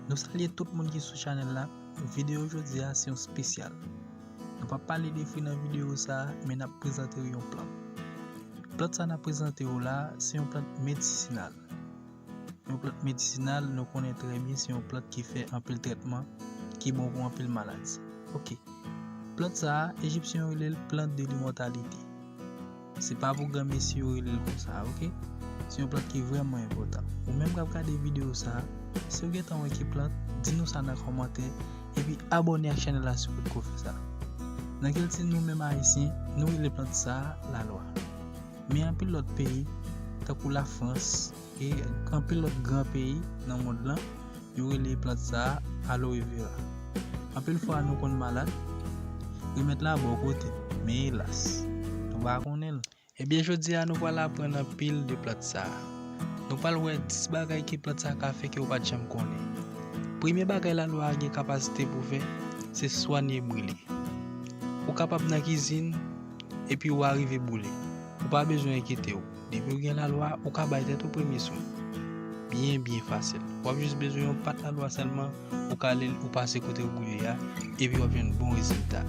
Nou salye tout moun ki sou chanèl la, videyo jodi a se yon spesyal. Nou pa pale de fwi nan videyo sa, men n ap prezante yon plant. Plant sa n ap prezante yo la, se yon plant medisinal. Yon plant medisinal nou konnen trè byen se yon plant ki fè anpil tretman, ki bon pou anpil maladi. Ok, plant sa, Ejipsyen yo rele l plant de limotalite. Se pa pou gran mesi yo rele l konsa a ok. Se yon plant ki vreman enpotan. Ou menm kap gade video sa a, si w gentan wè ki plant, di nou sa nan komantè, epi abone ak chanel la si w pot ko fè sa. Nan kilti nou menm ayisyen, nou rele plant sa a lalwa. Men anpil lot peyi, tankou la frans, E anpil lòt gran peyi nan mond lan, yo rele plant sa a Aloe Vera. Anpil fwa nou konn malad, remèd la bò kote, men elas, nou pa konnen l. Ebyen jodi a nou pral aprann anpil de plant sa a. Nou pral wè 10 bagay ke plant sa a ka fè ke ou pa t janm konnen. Premye bagay Laloe a gen kapasite pou fè, se swanye brile. Ou kapab nan kizin, epi ou arive boule. Ou pa bezwen enkyetew. Depi ou gen lalwa ou ka bay tèt ou premye swen. Byen byen fasil. Wap jis bezwen yon pat lalwa sèlman, ou kale l ou pase kote ou boule a, epi wap jwenn bon rezilta.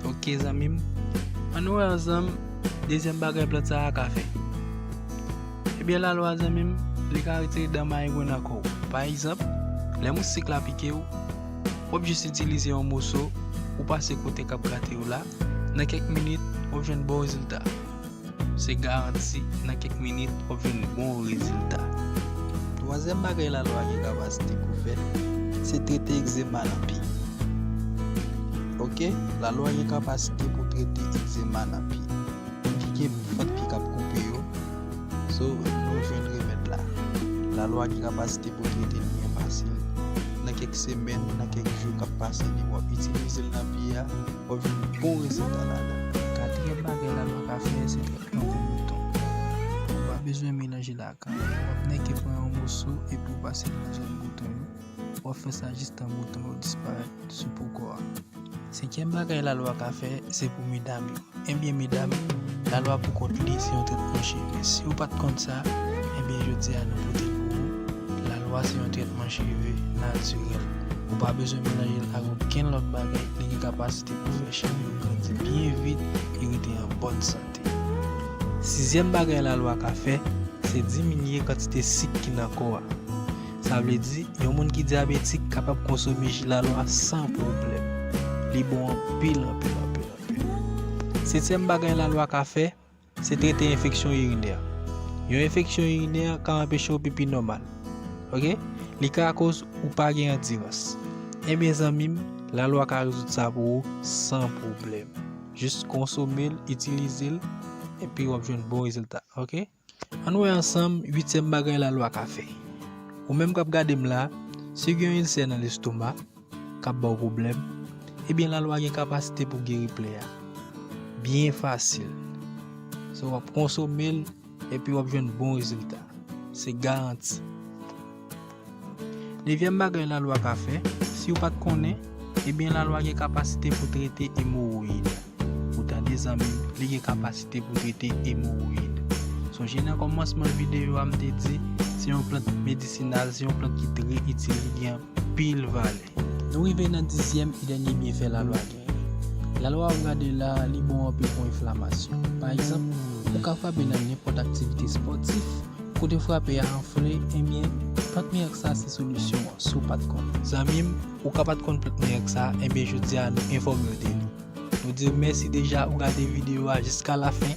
Ok zanmi m. An nou wè ansanm dezyèm bagay plant sa a ka fè. Ebyen lalwa zanmi m, li ka retire dan mayengwen nan kò w. Pa egzanp, lè moustik la pike w, wap jis itilize yon moso ou pase kote kap grate w la, nan kèk minit wap jwenn bon rezilta. Se garanti nan kèk minit wap jwenn bon rezilta. Twazyèm bagay lalwa gen kapasite pou fè, se trete egzema nan pi. Ok, lalwa gen kapasite pou trete egzema nan pi. Ki gen fant pi kap koupe yo, so nou jwenn remèd la. Lalwa gen kapasite pou trete li byen fasil. Nan kèk semèn, nan kèk jou kap pase li wap itilizel nan pi a. Wap jwenn bon rezilta ladan. Katriyèm bagay lalwa ka fè se trètman pou bouton. Ou pa bezwen melanje l ak anyen. Wap nèke pran yon moso epi w pase l nan zòn bouton yo. Wap fè sa jistan bouton yo disparèt sou po kò a. Senkyèm bagay lalwa ka fè se pou medam yo. Ebyen medam, lalwa pou kont li se yon trètman cheve. Si ou pat konn sa, ebyen jodi a nou pote l pou ou. Lalwa se yon trètman cheve natirèl. Ou pa bezwen melanje l ak okenn lòt bagay, li gen kapasite pou fè chèn yo grandi byen vit e rete an bòn sante. Sizyèm bagay lalwa ka fè, se diminye kantite sik ki nan kò a. Sa vle di, yon moun ki dyabetik kapab konsome ji lalwa san pwoblèm. Li bon anpil anpil anpil anpil. Setyèm bagay lalwa ka fè. Se trete enfeksyon irinè. Yon enfeksyon irinè ka anpeche w pipi nòmal. Ok. Li ka akoz ou pa gen andirans. Enben zanmi m, lalwa ka rezoud sa pou ou san pwoblèm. Jis konsome l, itilize l, epi w ap jwenn bon rezilta. Ok. Ann wè ansanm uityèm bagay lalwa ka fè. Ou menm k ap gade m la, si w gen yon ilsè nan lestomak, kap baw pwoblèm ebyen lalwa gen kapasite pou geri plè a byen fasil so wap konsomel epi wap jwenn bon rezilta se garanti. Nevyèm bagay lalwa ka fè siw pat konnen ebyen lalwa gen kapasite pou trete emowoyid ou tande zanmim li gen kapasite pou trete emowoyid sonje nan kòmansman videyo a mte di se yon plant medisinal se yon plant ki trè itil li gen pil valè. Nou rive nan dizyèm e dènye byenfè lalwa genyen. Lalwa w gade la a li bon anpil pou enflamasyon. Pa egzanp, ou ka frape nan nenpòt aktivite spòtif, kote frape a anfle, enben, plant mirak sa a se solisyon an, si w pa t konnen. Zanmi m, ou ka pa t konn plant mirak sa a, enben jodi a nou enfòme w de li. Nou di w mèsi deja ou gade videyo a jiska lafen.